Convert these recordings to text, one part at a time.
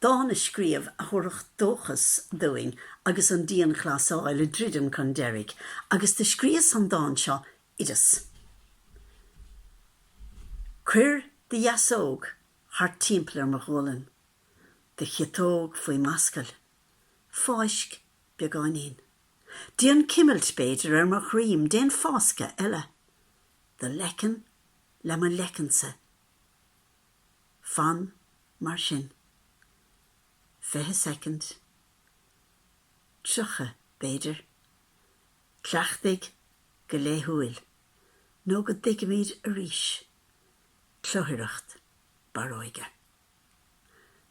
dán a scríobh a thabharfadh dóchas dúinn agus an dianghlasáil ag druidim chun deiridh, agus do scríos an dán seo, Oideas. Cuir do dheasóg thart timpeall ar mo ghualainn, do chiotóg faoi m'ascaill, fáisc beagáinín. Déan cimilt, b'fhéidir, ar mo dhroim, déan fáscadh eile. Do leiceann le mo leiceannsa. Fan mar sin. Fiche soicind. Tríocha, b'fhéidir. Cleachtaigh go laethúil nó go dtuigimid arís cluthaireacht barróige.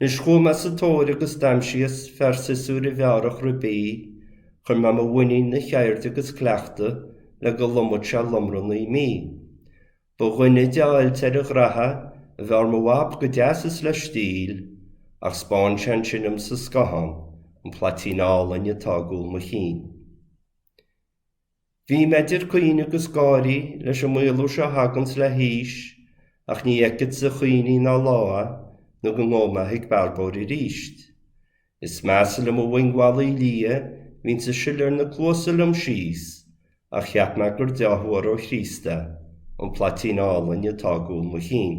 Anois chuaigh mé sa tóir agus d'aimsíos fear siosúir a bhearrfadh ribí, chuir mé mo mhuinín ina cheird agus cleachtadh le go lomfadh sé lomra naoi mí. Ba dhuine de fháilte ar a ghraithe a bhearr mo bhab go deas is le stíl, ach spáin sé ansin dhom sa scáthán an plaitín álainn atá i gcúl mo chinn. Bhí mé idir caoineadh agus gáirí leis an maolú seo a thaganns le haois, ach ní fheicfeadsa caoineadh ná lámha nó go ngabhfaidh mé ag bearbóir aríst. Is measa liom an mhoing mhallaithe liath, a bhíonns ag sileadh ar na cluasa liom síos, ach cheap mé gur dea-thuar ó Chríost é, an plaitín álainn atá i gcúl mo chinn.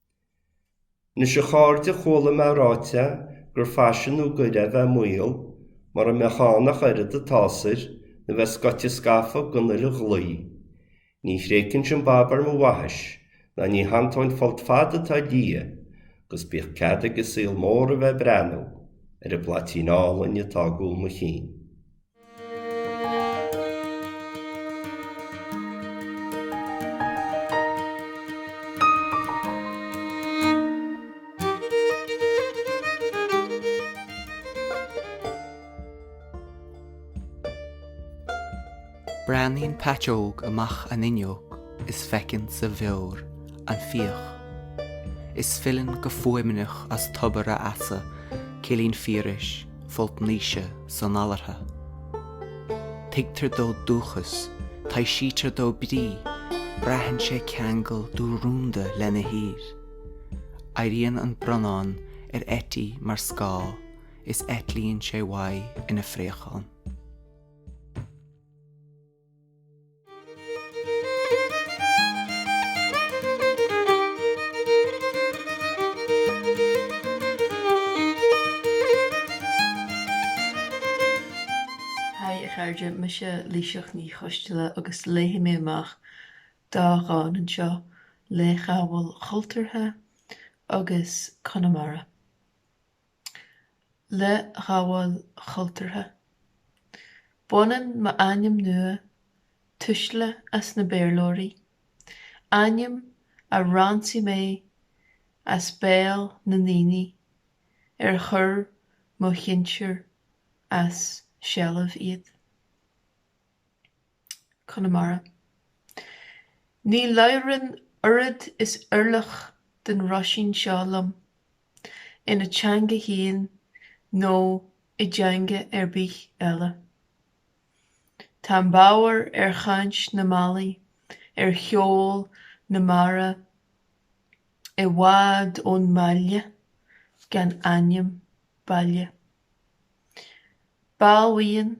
Anois a chairde chuala mé ráite gur faisean nua goir é bheith maol, mara mbeadh ann ach oiread an tsásair nó bheith scoite scafa den uile dhlaoi. Ní thréigfinnse an bab ar mo bhaithis, ná ní shantóinn folt fada atá liath, 'gus bíodh cead ag an saol mór a bheith ag breathnú ar an bplaitín álainn atá i gcúl mo chinn. Breathnaíonn Peait Óg amach an fhuinneog is feiceann sa bheoir an fiach is filleann go fuaimneach as tobar a fheasa, cillín fíorais. folt Naoise san Allardha. Tuigtear dó dúchas, taibhsítear dó brí, braitheann sé ceangal dúrúnda lena thír. Éiríonn an branán ar eití mar scáth is eitlíonn sé uaidh ina phréachán. Haigh a chairde, mise Laoighseach Ní Choistealbha agus léifidh mé amach dhá dhán anseo Leithghabháil Chultúrtha agus Conamara. Leithghabháil chultúrtha. Baineann m'ainm nua tuisle as na Béarlóirí, ainm a ransaigh mé as béal na ndaoine ar chuir mo shinsir as seilbh iad. Conamara. Ní labhrann oiread is orlach den roisín seo liom, ina teanga féin nó i dteanga ar bith eile. Táim bodhar ar chaint na mballaí, ar cheol na mara i bhfad ón mbaile gan ainm baile. B'álainn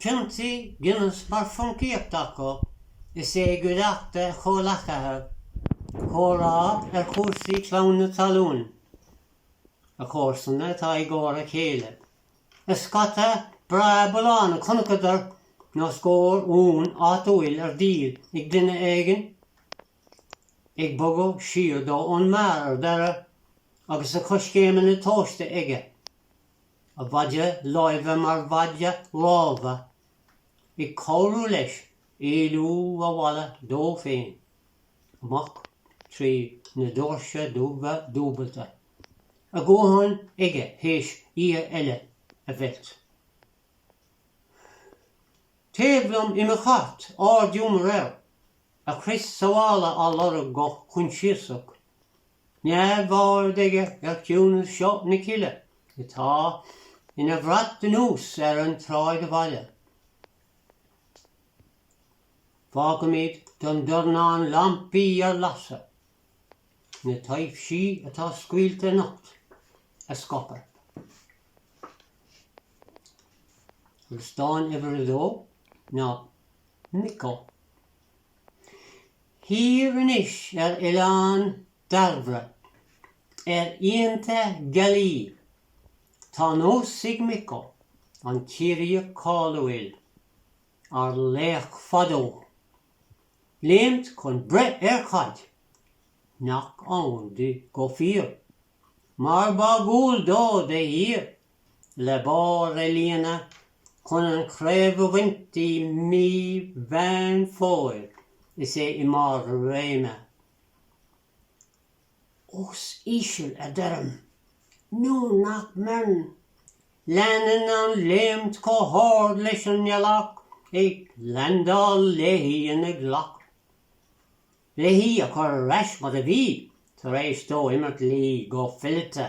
Piontaí Guinness mar phoncaíocht acu, is é i gcuideachta a chomhleacaithe ag comhrá ar chúrsaí clann na talún, a chomharsana atá i gcomhar a chéile, is scata breá bullán a chonacadar nó scór uan áitiúil ar díol ag duine éigin, ag bogadh siar dó ón mbeár ar deireadh agus a choiscéimeanna tomhaiste aige a mhaide láimhe mar mhaide rámha, ag cabhrú leis éalú abhaile dó féin amach trí na doirse dubha dúbailte, a dhóthain aige théis oíche eile a mheilt. Taobh liom i mo chairt ardghiúmar air, a chrios sábhála á lorg go coinsiasach neamhaird aige ar chiúnas seo na cille atá ina bhrat anuas ar an tsráidbhaile. Fágaimid don dornán lampaí ar lasadh na taibhsí atá scaoilte anocht a scaipeadh. Agus dán uimhir a dó ná Micko. Thiar anois ar oileán Dairbhre, ar oícheanta gealaí, tá nós ag Micko, an Ciarraíoch cáiliúil, ár laoch fadó, léimt chun breith ar chaid nach ann di go fíor, mar ba dhual dó de shíor. le barr a líonadh chun an chraobh a bhaint i mí Mheán Fómhair, is é i mbarr a réime. Ós íseal a deirim nó nach mbeireann, leanann an léimt chomh hard leis an ngealach, ag leaindeáil léi ina ghlac, le hí a chur ar ais mar a bhí tar éis dó imirt léi go fileata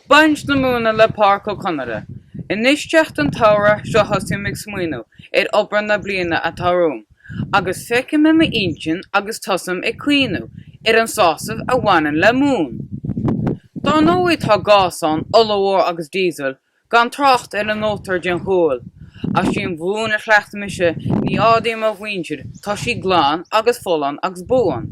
Baint na Móna le Páraic Ó Conaire. Anois teacht an tsamhraidh sea thosaím ag smaoineamh ar obair na bliana atá romham agus feicim i m'intinn agus tosaím ag cuimhniú ar an sásamh a bhaineann le móin. Dár ndóigh tá gás ann, ola mhór agus diesel, gan trácht ar an mótar den ghual. Ach sí an mhóin a chleacht mise, ní áirím mo mhuintir, tá sí glan agus folláin agus buan.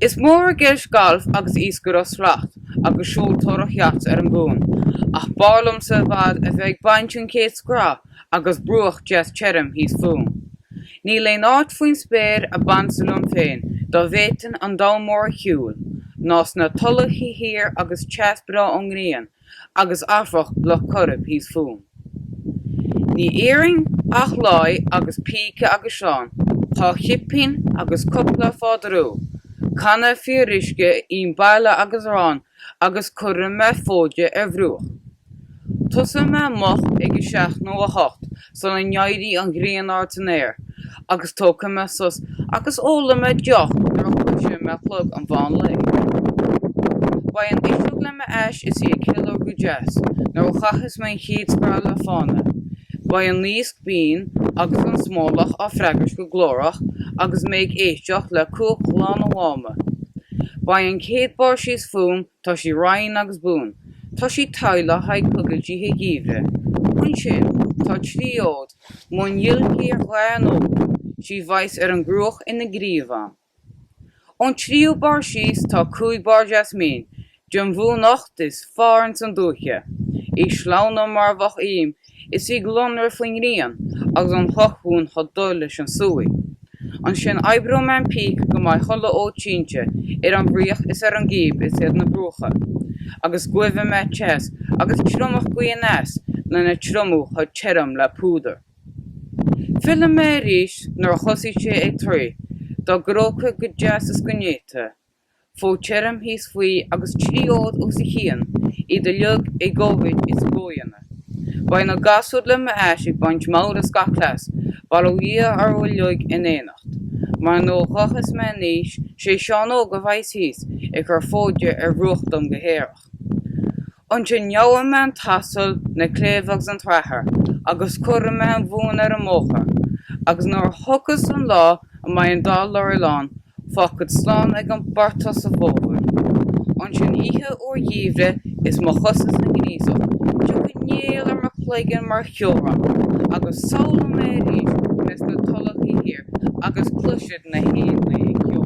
Is mór i gceist galf agus iascaireacht slat agus seoltóireacht yacht ar an gcuan, ach b'fhearr liomsa i bhfad a bheith ag baint an chéad scraith agus bruach deas tirim thíos fúm. Níl aon áit faoin spéir a b'ansa liom féin dá bhféadfainn an domhan mór a shiúl ná sna tulacha thiar agus teas breá ón ngrian agus amharc Loch Coirib thíos fúm. Ní iarrainn ach láí agus píce agus sleán, dhá chipín agus cupla fádarú, canna fíoruisce im baile agus arán agus cuirfidh mé fóide ar bhruach. Tosóidh mé moch ag a seacht nó a hocht sula n-éirí an ghrian ard san aer, agus tógfaidh mé sos agus ólfaidh mé deoch nuair a chloisfidh mé clog an mheán lae. Beidh an fhuiseog le m'ais is í ag ceiliúr go deas nuair a chaithfeas mé an chéad scraith le fána. Beidh an naosc binn agus an smólach á freagairt go glórach agus mé ag éisteacht le cuach Ghleann an Mháma. Beidh an chéad barr síos fúm Tá sí righin agus buan. Tá sí togha le haghaidh coigilt oíche gheimhridh. Ansin tá trí fhód móin ghiolcaí ar dhath an óir, sí a bheas ar an gcruach ina gríomhán. Ón tríú barr síos tá cúig barr deas mín, den mhóin uachtair is fearr ins an dúiche, í sleamhain mar a bheadh im is í ag lonradh faoin ngrian agus an chlochmhóin chomh dubh leis an súiche. Ansin oibreoidh mé an píce go mbeidh chuile fhód sínte ar an bhfraoch is ar an gcíb is ar na bruacha, agus guífidh mé teas agus triomach gaoth aneas lena triomú chomh tirim le púdar. Fillfidh mé arís nuair a thosaíos sé ag triomú, dá gróigeadh go deas is go néata, fód tirim thíos faoi agus trí fhód os a chionn, iad uilig i gcomhmhéid is i gcomhdhéanamh. Beidh na gasúir le m'ais ag baint meabhair as gach cleas, bail ó Dhia orthu uilig in éineacht. Mar nuair a ghabhfas mé in aois, 'sé Seán Óg a bheidhs thíos ag cur fóide ar bhruach dom go haerach. Ansin gheobhaidh mé an t-asal, na cléibh agus an tsrathair agus cuirfidh mé an mhóin ar an mbóthar, agus nuair a thiocfas an lá a mbeidh an dá lorry lán, fágfad slán ag an bportach sa bhfómhar. Ansin oíche fhuar gheimhridh is mo chosa sa ngríosach, tiocfaidh néal ar mo chloigeann mar cheobhrán agus samhlóidh mé arís mé sna tulachaí thiar agus cloisfead na héanlaith ag ceol.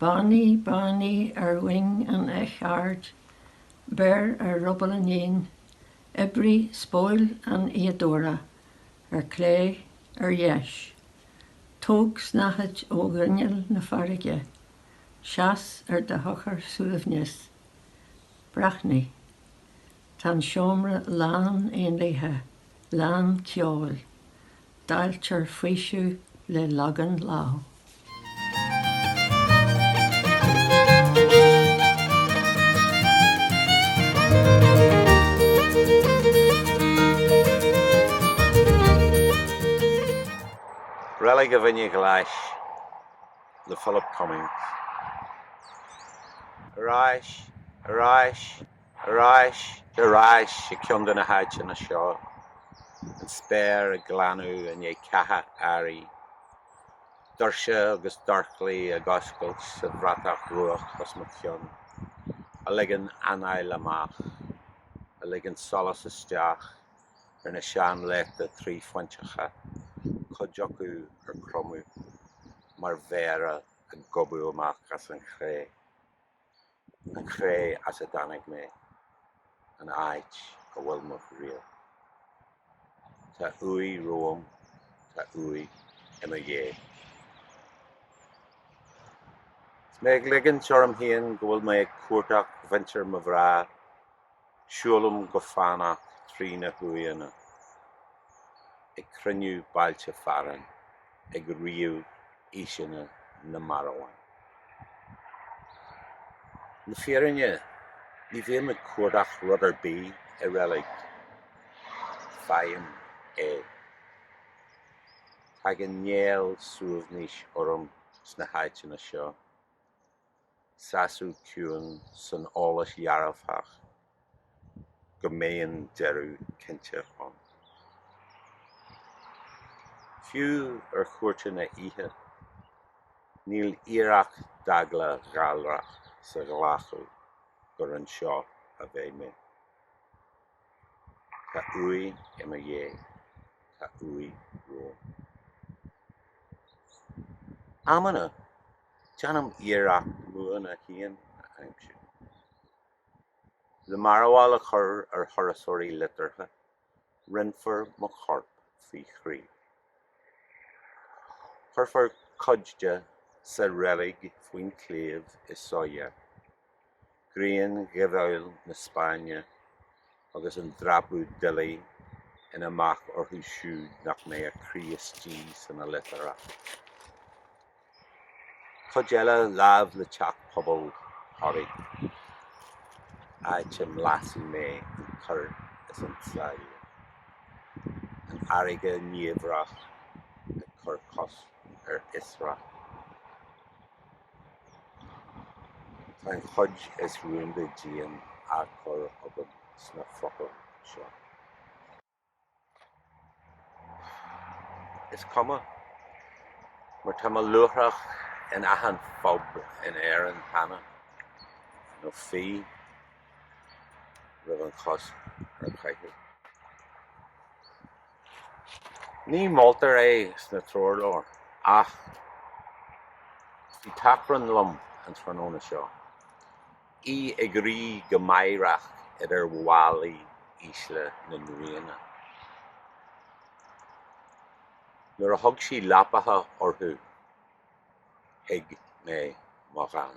Báiní, báiní ar mhoing an eich aird, beir ar ruball an éin, oibrigh spóil an fhíodóra, ar clé, ar dheis, tóg snáthaid ó ghrinneall na farraige, seas ar do shochar suaimhneas, breathnaigh, tá an seomra lán éanlaithe, lán ceoil, Dáiltear faoiseamh le Lagan Ladh. Reilig an Mhuine Ghlais le Philip Cummings. Ar ais! Ar ais, i gceann de na háiteanna seo, an spéir ag glanadh i ndiaidh ceatha earraigh, doirse agus dorchlaí ag oscailt sa bhratach dhubhach os mo chionn, a ligeann anáil amach, a ligeann solas isteach ar na seanleachta tríphointeacha, cuid acu ar cromadh mar mhéara ag gobadh amach as an chré. an chré as a dtáinig mé, an áit a bhfuil mo thriall. Tá uaigh romham, tá uaigh i mo dhiaidh. Is mé ag ligint orm féin go bhfuil mé ag cuartach mhuintir mo mhná. Siúlaim go fánach trí na huaigheanna, ag cruinniú bailte fearainn, ag ríomh aoiseanna na marbhán. Le fírinne, ní bhím ag cuardach rud ar bith i reilig. Faighim é. Tagann néal suaimhnis orm sna háiteanna seo. sásamh ciúin san eolas dhearfach go mbeidh an deireadh cinnte chugainn. Fiú ar chuairteanna oíche, níl iarracht d'eagla ghalrach sa ghlacadh gur anseo a bheidh mé. Tá uaigh i mo dhiaidh, tá uaigh romham. Amanna, Déanaim iarracht m'uaigheanna féin a aimsiú. Le mearbhall a chur ar thurasóirí liteartha, roinnfear mo chorp faoi thrí. Cuirfear cuid de sa reilig faoin tsliabh i Sóller. grian ghoimhiúil na Spáinne agus an dreapadh doiligh ina mbac orthu siúd nach mbeadh a gcroí istigh san oilithreacht. Cuid eile láimh le teach pobail Thoraí, áit a mblaisfidh mé an cúr is an tsáile, an fharraige niamhrach ag cur cosc ar fhiosracht. Tá an chuid is rúnda díom á cur agam sna focail seo. Is cuma, mar tá mo luaithreach in achan phub in Éirinn cheana, nó bhí roimh an chosc ar chaitheamh. Ní moltar é sna treoirleabhair, ach bhí tachrán liom an tráthnóna seo, í ag rith go meidhreach idir bhallaí ísle na n-uaigheanna. Nuair a thug sí leapacha orthu thuig mé mo dhán.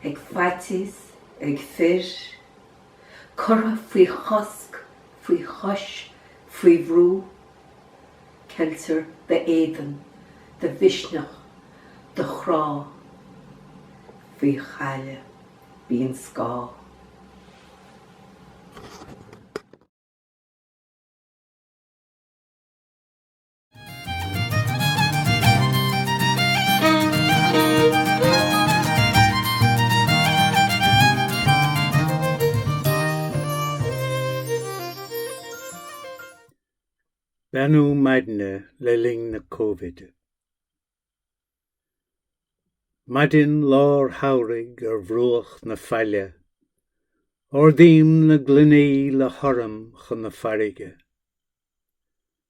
ag faitíos, ag fir, curtha faoi chosc, faoi chois, faoi bhrú, ceiltear do éadan, do mhisneach, do chrá, faoi chaille, bíonn scáth. Beannú maidne le linn na Covid. Maidin lár shamhraidh ar bhruach na faille, ardaím na gloiní le hurraim chun na farraige.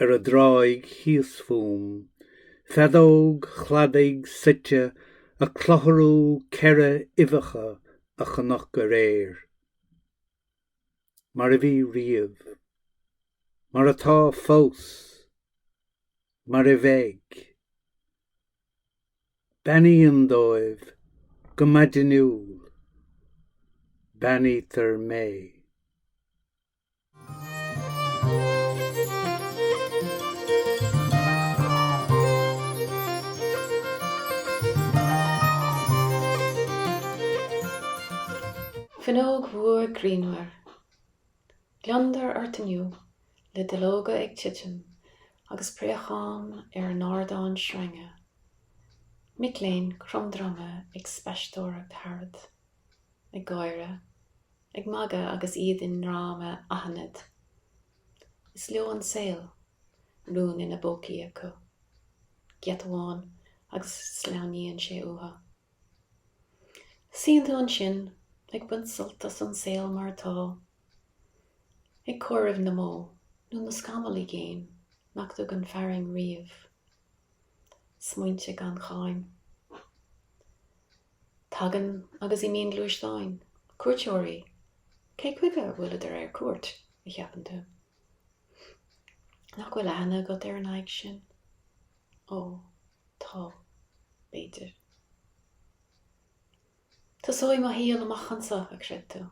ar an dtráigh thíos fúm, feadóg chladaigh suite ag clutharú ceithre uibheacha a chonac aréir. Mar a bhí riamh. Mar atá fós. Mar a bheidh. Beannaíonn dóibh go maidiniúil. Beannaítear mé. Fuinneog mhór grianmhar. Gliondar ort inniu le duilleoga ag titim agus préacháin ar an ardán sreinge. Mic léinn cromdroma ag spaisteoireacht tharat. Ag gáire. ag magadh agus iad i ndráma aithnid. Is leo an saol, rún ina bpócaí acu. Giota amháin agus sleamhnaíonn sé uathu. Suíonn tú ansin ag baint sult as an saol mar atá, ag comhaireamh na mbó nó na scamall i gcéin nach dtugann fearthainn riamh. Smaointe gan cháim. Tagann agus imíonn gluaisteáin, cuairteoirí. Cé chuige a bhfuileadar ar cuairt, a cheapann tú? Nach bhfuil aithne agat ar an aghaidh sin? Ó, tá, b'fhéidir. Tosóidh mo shaol amach ansa, a chreid tú,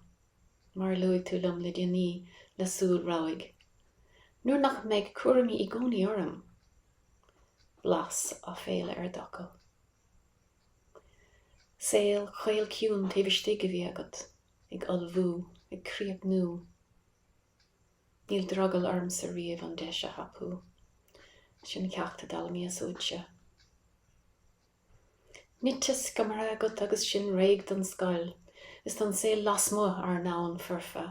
mar a luaigh tú liom le déanaí le súil rabhaidh, nuair nach mbeidh cúraimí i gcónaí orm. Blas aiféala ar d'fhocail. Saol caol ciúin taobh istigh a bhí agat, ag ullmhú, ag críochnú. Níl drogall ormsa riamh an deis a thapú sin ceacht a d'fhoghlaimíos uaitse. Nite sciomartha agat agus sinn réidh don scoil is don saol lasmuigh, ár ndomhan foirfe.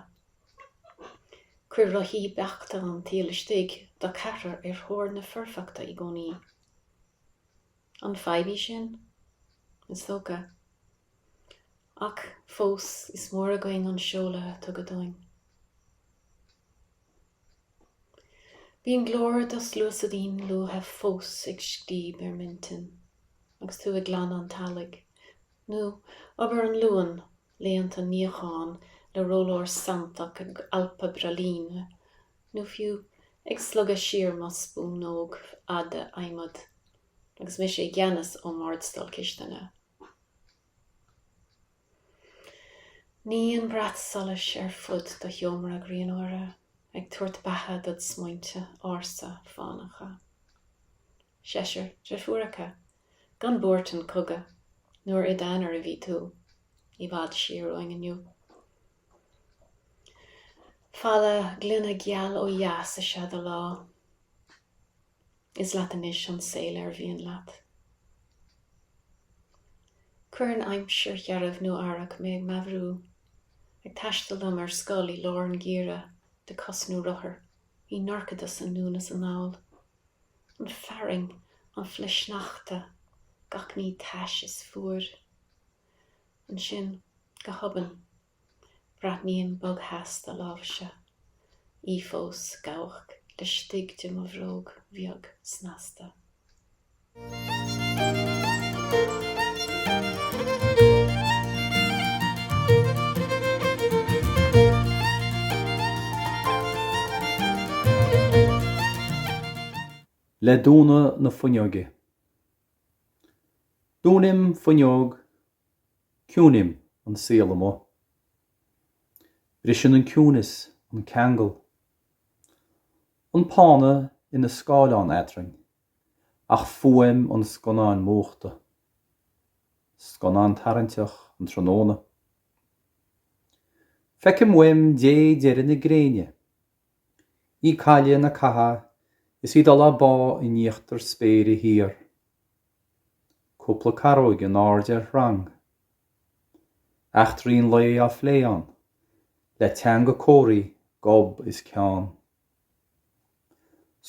Chuir rothaí beachta an tsaoil istigh do cheathrar ar thóir na foirfeachta i gcónaí. An fadhb í sin? Is dócha. Ach fós is mór againn an seoladh a tugadh dúinn. Bíonn glór do shluasaidín luaithe fós ag scríob ar m'intinn agus tú ag glanadh an teallaigh, nó obair an Luain, laethanta níocháin le rólár santach ag alpadh braillín nó fiú ag slogadh siar mo spúnóg fhada adhmaid agus mise i gceannas ón mbardstól cistine. Níonn brat solais ar fud do sheomra grianmhara, ag tabhairt beatha dod smaointe ársa fánacha. Seisear dreifiúracha, gan buairt an chogaidh, nuair i d'aonar a bhí tú, i bhfad siar uainn inniu. Falla gloine geal ó dheas is ea do lá. Is leat anois an saol ar mhian leat. Cuireann aimsir shearbh nó earrach mé ag meabhrú, ag taisteal liom ar scoil i lár an gheimhridh de cos nó rothar, i ndorchadas anonn is anall. An fearthainn, an flichshneachta, gach ní tais is fuar. Ansin, go hobann, braithním bogtheas do láimhse, í fós gabhadh laistigh de mo bhróg bheag snasta. Le dúnadh na fuinneoige, Dúnaim fuinneog, ciúnaím an saol amuigh. Briseann an ciúnas an ceangal. An pána ina scáileán eadrainn ach fuaim an scannáin múchta. Scannán tarraingteach an tráthnóna. Feicim uaim dé deiridh na gréine Í ag cailleadh na catha is í ag dul á bá in íochtar spéire thiar. Cúpla caróig in airde ar chrann. Eachtraí an lae á phlé ann, le teanga comharthaí, gob is ceann.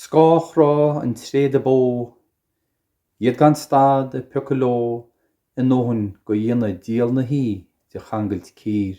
Scáthchruth an tréada bó, iad gan stad ag piocadh leo a ndóthain go dhéanfaidh díol na hoíche de changailt cír.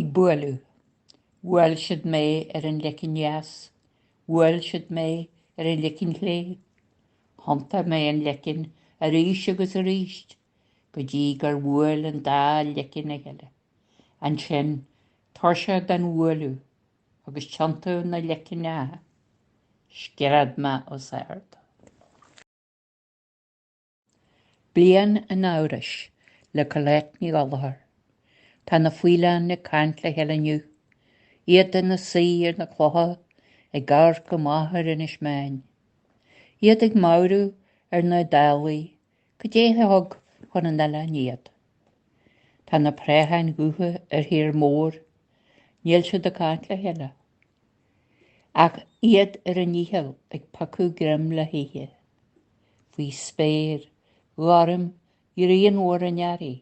Ag bualadh. Bhuail siad mé ar an leiceann dheas, bhuail siad mé ar an leiceann chlé, thiontaigh mé an leiceann arís agus arís, go dtí gur bhuail an dá leiceann a chéile. Ansin, tuirseach den bhualadh, agus tiontú na leicneacha, scread mé os ard. Bliain an Amhrais, le Colette Ní Ghallchóir. Tá na faoileáin ag caint le chéile inniu, iad ina suí ar na clocha ag amharc amach ar Inis Meáin. Iad ag meabhrú ar na dálaí Cad é a thug chun an oileáin iad? Tá na préacháin dhubha ar thír mór, níl siad ag caint le chéile, ach iad ar a ndícheall ag piocadh greim le hithe. Faoi spéir ghorm ghrianmhar an earraigh,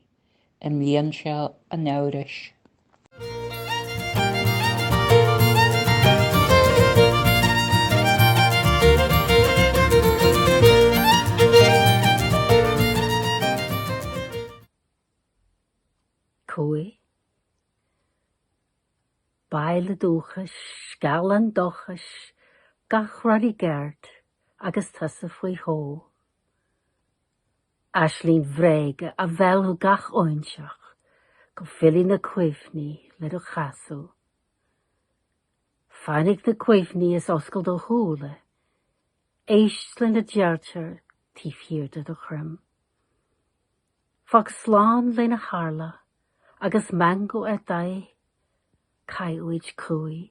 i mbliain seo an amhrais. Cumhaidh baile dúchais, gealán dóchais, gach rud i gceart agus tusa faoi shó. Aisling bhréige a mheallfadh gach óinseach go bhfillfidh na cuimhní le do chasadh. Fainic na cuimhní is oscail do shúile, éist lena deirtear taobh thiar de do dhroim. Fág slán lena tharla agus meangadh ar d'aghaidh, caith uait cumhaidh.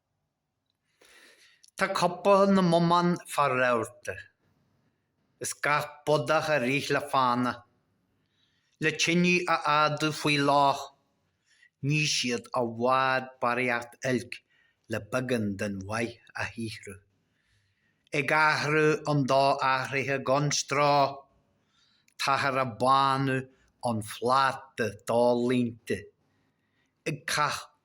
Tá coipeadh na mbomán fá rabharta, is gach bodach ag rith le fána, le tinidh a fhadú faoi loch, ní siad i bhfad barraíocht oilc le beagán den mhaith a shaothrú. Ag athrú an do-athraithe gan stró, táthar ag bánú an phláta dá línte, ag caitheamh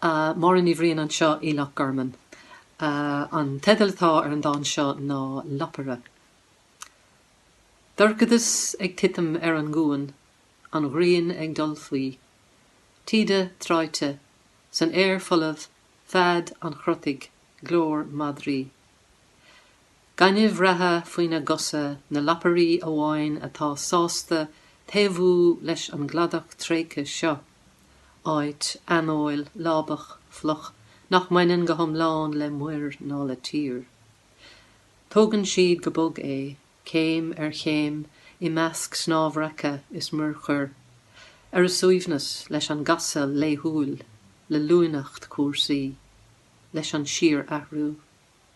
Máire Ní Bhriain anseo i Loch Garman. An teideal atá ar an dán seo ná Lapaire. Dorchadas ag titim ar an gcuan, an ghrian ag dul faoi. Taoide tráite, san aer folamh fead an chrotaigh, glór madraí. Gaineamh reatha faoina gcosa, na lapairí amháin atá sásta taobhú leis an gcladach tréigthe seo, áit aineoil, lábach, fliuch, nach mbaineann go hiomlán le muir ná le tír. Tógann siad go bog é, céim ar chéim, i measc snámhraice is muirchuir, ar a suaimhneas, leis an gcasadh laethúil, le luaineacht cúrsaí, leis an síorathrú.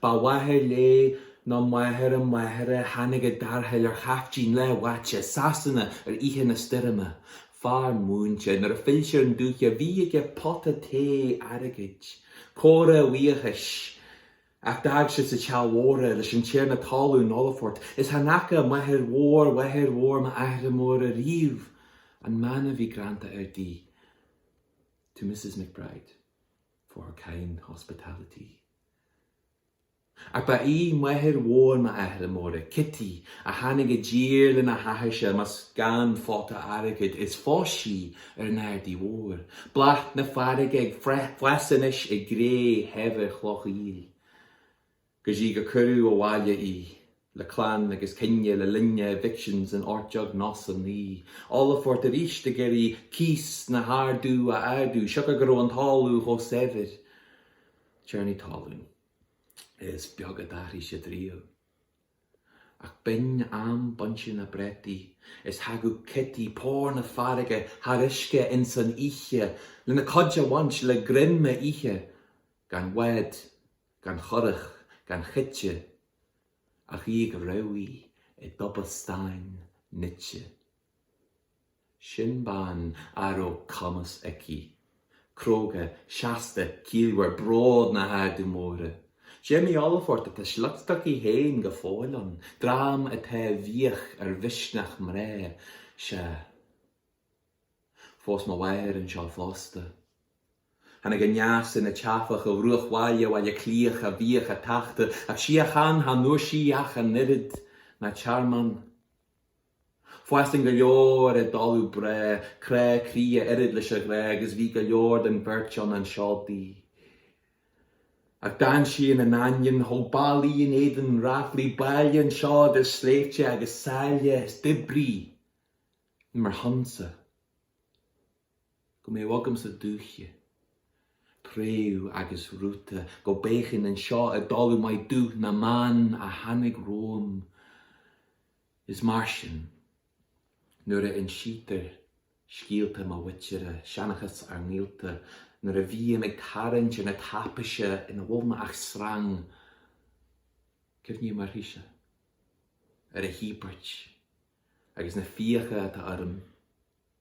Ba mháthair léi nó máthair a máthara a tháinig i dtarrtháil ar chaiftín leath-bháite Sasana ar oíche na stoirme. Fear múinte, nuair a phill sé ar an dúiche bhí aige pota tae airgid, comhartha a bhuíochais, ach d'fhág sé sa teach mhór é, leis an tiarna talún, Olphert, is chan fhaca máthair mhór mháthair mhór m'athara móire ariamh an mana a bhí greanta air di, To Mrs. McBride. for her kind hospitality. Ach ba í máthair mhór m'athara móire, Cití, a tháinig i dtír lena hathairse, más gan phota airgid, is phós sí ar an Ardaidh Mhór, bláth na farraige ag fás anois i gcré shaibhir chloch aoil. go dtí gur cuireadh abhaile í le clann agus cine le linn evictions in ocht déag nócha is a naoi, Olphert arís ag iarraidh cíos na hArdadh a ardú siocair go raibh an talamh chomh saibhir. Tiarnaí talún. Is beag a d'athraigh siad riamh. Ach b'in am bainte na bpréataí is thagadh Kitty, pór na farraige, thar uisce ins an oíche lena cuid a bhaint le greim a ithe gan bhád. gan churach gan choite, ach í ag rámhadh i dtoba stáin nite. Sin bean a raibh cumas aici, cróga seasta ciallmhar bród na hArdadh Móire. D'imigh Olphert ach tá a sliocht aici féin go fóill ann, dream atá buíoch ar mhisneach mná, sea. Phós mo mháthair anseo fosta. Tháinig aneas ina teifeach ó bhruachbhaile Bhaile Átha Cliath a bhíodh á tachtadh ach síocháin chan fhuair sí ach an oiread, ná tearmann. Fairsing go leor i dtalamh breá, crá croí a oiread leis an ghrá agus bhí go leor den bheirt ann anseo di. Ach d'fhan sí ina n-ainneoin, thóg ballaí in éadan ráflaí baile anseo idir sléibhte agus sáile is d'oibrigh ar mo shonsa. go mbeadh agamsa dúiche, préamh agus rúta, go bpéacfainn anseo i dtalamh maith dúch na mban a tháinig romham. Is mar sin, nuair a insítear scéalta mo mhuintire, seanchas ár ngaolta, nuair a bhím ag tarraingt na taipéise ina bhfuil mé ach srang, cuimhním uirthise, ar a híobairt agus na fiacha atá orm.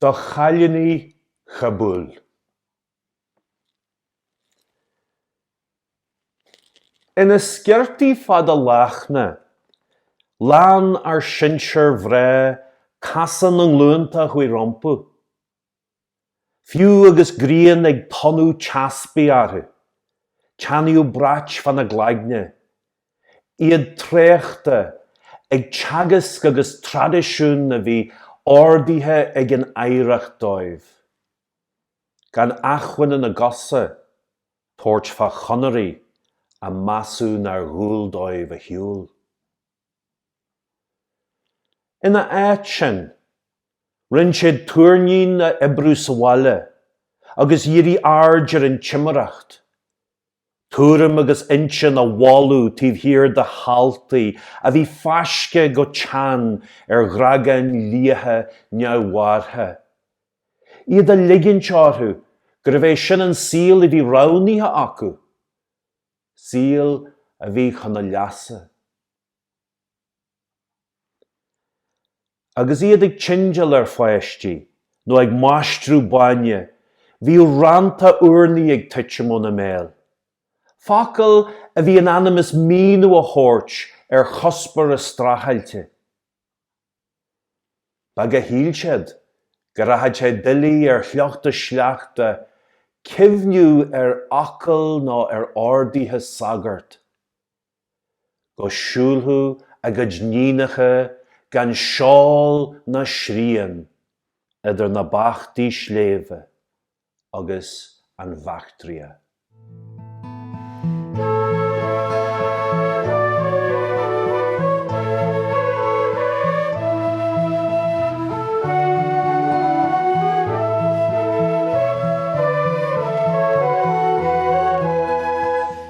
do chailíní Chabúl. Ina sciortaí fada lachna, lean ár sinsearmhná casán na nglúnta a chuaigh rompu, fiú agus grian ag tonnadh teaspaigh orthu, teannaíodh brait fána gcloigne, iad traochta ag teagasc agus traidisiún a bhí ordaithe ag an oidhreacht dóibh, gan acmhainn ina gcosa tabhairt fá chonairí a measadh nár dhual dóibh a shiúl. Ina áit sin, rinne siad túirnín a oibriú sa bhaile agus dhírigh aird ar an timireacht, tuairim agus intinn i bhfolach taobh thiar de sheáltaí a bhí fáiscthe go teann ar ghrágáin liatha neamhbhearrtha, iad ag ligint orthu gurbh é sin an saol a bhí roghnaithe acu, saol a bhí chun a leasa. Agus iad ag tindeáil ar pháistí nó ag maistriú bainne, bhíodh rannta urnaí ag tuitim óna mbéal, focail a bhí in ainm is míniú a thabhairt ar chuspóir a streachailte. Beag a shíl siad go rachadh sé doiligh ar shliocht a sleachta cuimhniú ar fhocail ná ar orduithe sagart. go siúlfadh a gcuid níonacha gan seál ná srian idir na bachtaí sléibhe agus an Bhaictria.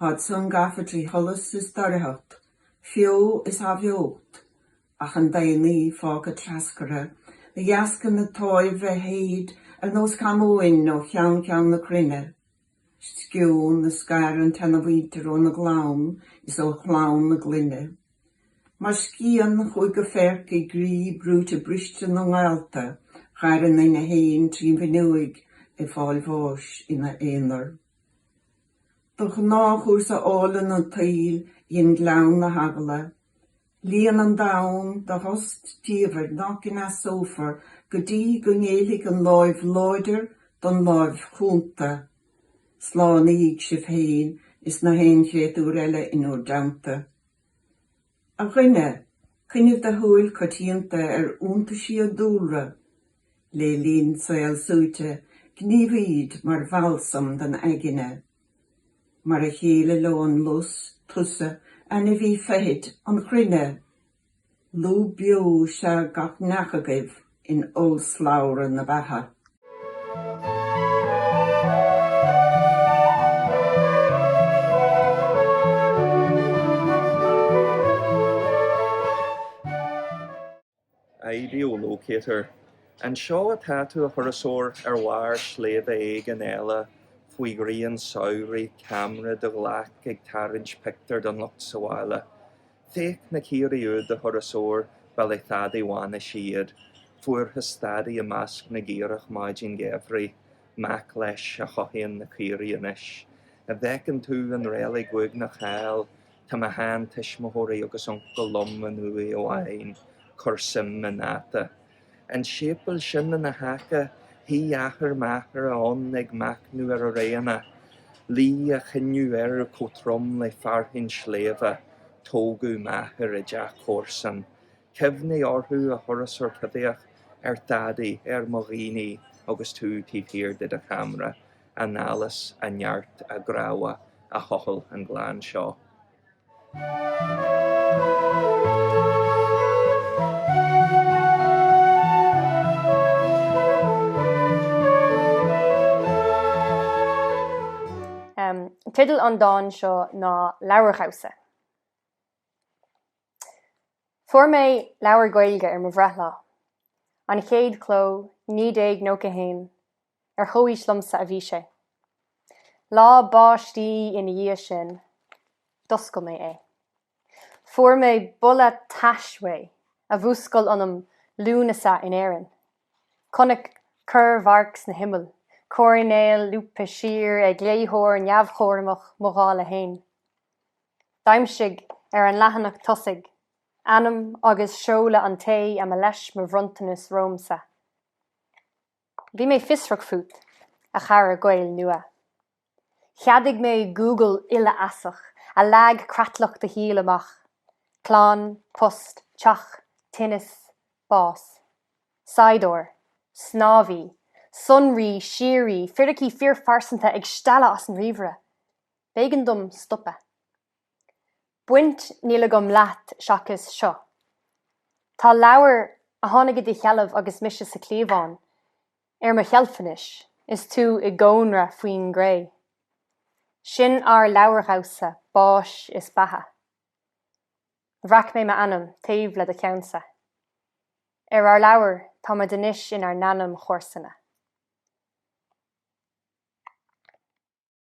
Tháid san gafa trí sholas is doircheacht, feo is athbheocht, ach an daonnaí fágtha treascartha de dheasca na táimhe a shéid ar nós camóin ó cheann ceann na cruinne, sceon a scar an tseanamhuintir óna gclann is ó chlann a gclainne. Mar scian a chuaigh go feirc i gcroí brúite briste na ngaolta, dh'fhair a nduine féin trín bhfinneoig ag fáil bháis ina aonar. De ghnáthchúrsa álainn an tsaoil dhein gleann na heagla líon an domhan de thost diamhair nach gcneasófar go dtí go ngéillfidh an láimh láidir don láimh chúnta. Slánaígí sibh féin is na haon chréatúir eile in bhur dteannta. A dhuine, coinnigh do shúil coitianta ar iontaisí an dúlra. Le linn saol suaite, gníomhaíd mar bhalsam don aigne. Mar a chéile leo an lus, tusa, ainmhí feithid, an chruinne. Lúb beo is ea gach neach agaibh. in ollslabhra na beatha. Geolocator. An seo atá tú, a thurasóir, ar bharr sléibhe éigin eile faoi ghrian samhraidh, ceamara i do ghlaic ag tarraingt pictiúr don lucht sa bhaile? Féach na caoirigh úd, a thurasóir, ba le Teaidí Mhánais iad, fuarthas Teaidí i measc na gcaorach maidin gheimhridh, mac leis a chothaíonn na caoirigh anois. An bhfeiceann tú an reilig uaigneach thall, tá mo shean-tuismitheoirí agus uncail liom in uaigh amháin, cuir suim ina ndáta. an séipeal sin ina haice, shuigh athair m'athara ann ag machnamh ar a réanna, luí a choinneadh air chomh trom le fearthainn sléibhe. Tógadh m'athair i dteach comharsan. Cuimhnigh orthu a thurasóir choimhthíoch, ar Teaidí, ar mo dhaoine agus tú taobh thiar de do cheamra, a n-allas, a neart, a gcrábhadh, a thochail an gleann seo. Teideal an dáin seo ná Leabhardhamhsa. Fuair mé leabhar Gaeilge ar mo bhreithlá, an chéad chló, 1991, ar chomhaois liomsa a bhí sé. Lá báistí ina dhiaidh sin, d'oscail mé é. Fuair mé boladh tais uaidh a mhúscail ionam Lúnasa in Éirinn. Chonaic corr-mharc sna himill, coirnéil lúbtha siar ag léitheoir neamhchúramach, mo dhála fhéin. D'aimsigh, ar an leathanach tosaigh, ainm agus seoladh an té a mba leis mo bhronntanas romhamsa. Bhí mé fiosrach fút, a chara Gael Nua. Cheadaigh mé Google uilefheasach a leag creatlach do shaoil amach, clann, post, teach, tinneas, bás. Saighdeoir. Snámhaí. Sonraí síoraí. Firicí fíorphearsanta ag stealladh as an ríomhaire. B'éigean dom stopadh. Baint níl agam leat seachas seo. Tá leabhar, a tháinig i do sheilbh agus mise sa chliabhán, ar mo sheilf anois, is tú i gcónra faoin gcré. Sin ár leabhardhamhsa báis is beatha. Bhreac mé m'ainm taobh le do cheannsa. Ar ár leabhar, táimid anois inár n-ainmchomharsana.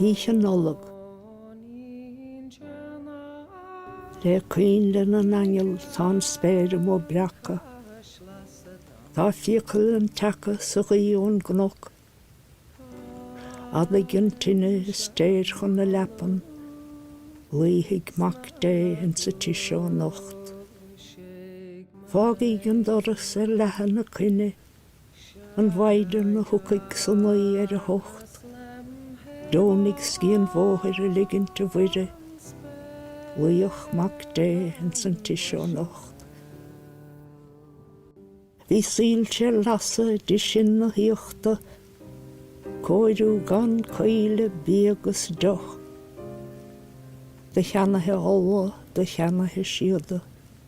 Oíche Nollag. Le coinnle na n-aingeal tá an spéir amuigh breactha. Tá fiacail an tseaca sa ghaoith ón gcnoc. Adaigh an tine is téir chun na leapan, luífidh Mac Dé insa tigh seo anocht. Fágaíg an doras ar leathadh ina coinne. an mhaighdean a thiocfaidh is a naí ar a hucht, Deonaigh scíth an bhóthair a ligint, a Mhuire, luíodh Mac Dé ins an tigh seo anocht. Bhí soilse ar lasadh i dtigh sin na haíochta, cóiriú gan caoile, bia 'gus deoch, do cheannaithe olla, do cheannaithe síoda.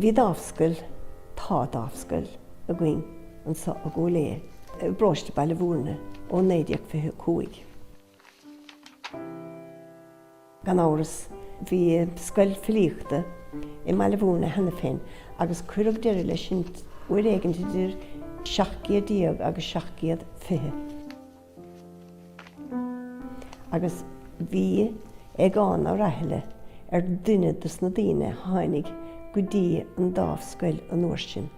Bhí Dámhscoil, tá Dámhscoil, againn anso i gCúil Aodha, i bparóiste Baile Mhúirne ó 1925. Gan amhras, bhí scoil filíochta i mBaile Mhúirne cheana féin agus cuireadh deireadh leis sin uair éigint idir 1700 agus 1720, agus bhí Aogán Ó Rathaille ar duine dos na daoine a tháinig go dtí an Dámhscoil an uair sin.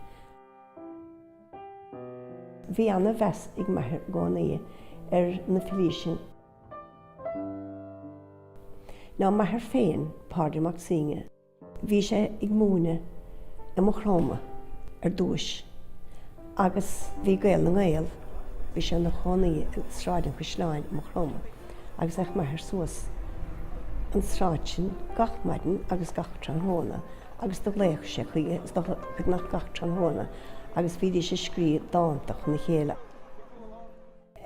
Bhí ana-mheas ag m'athair i gcónaí ar na filí sin. Now, m'athair féin, Pádraig Mac Suibhne. Bhí sé ag múineadh i Maigh Chromtha ar dtúis agus bhí Gael na nGael, bhí sé ina chónaí i Sráid an Chaisleáin i Maigh Chromtha agus théadh m'athair suas an tsráid sin gach maidin agus gach tráthnóna, agus do ghlaodh sé chuige beagnach gach tráthnóna agus bhídís ag scríobh dánta chun a chéile.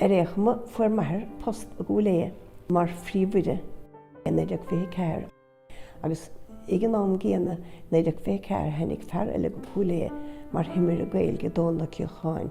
Ar aon chuma, fuair m'athair post i gCúil Aodha mar phríomhoide i 1924 agus ag an am gcéanna, 1924, tháinig fear eile go Cúil Aodha mar thimire Gaeilge, Dónall Ó Ceocháin.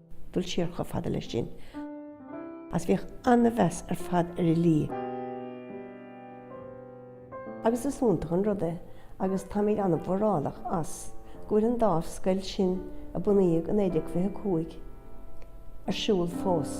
Dul siar chomh fada leis sin, is bhíodh an-mheas ar fad ar fhilí, agus is iontach an rud é, agus táimid an-mhórálach as, go bhfuil an Dámhscoil sin, a bunaíodh i 1925, ar siúl fós.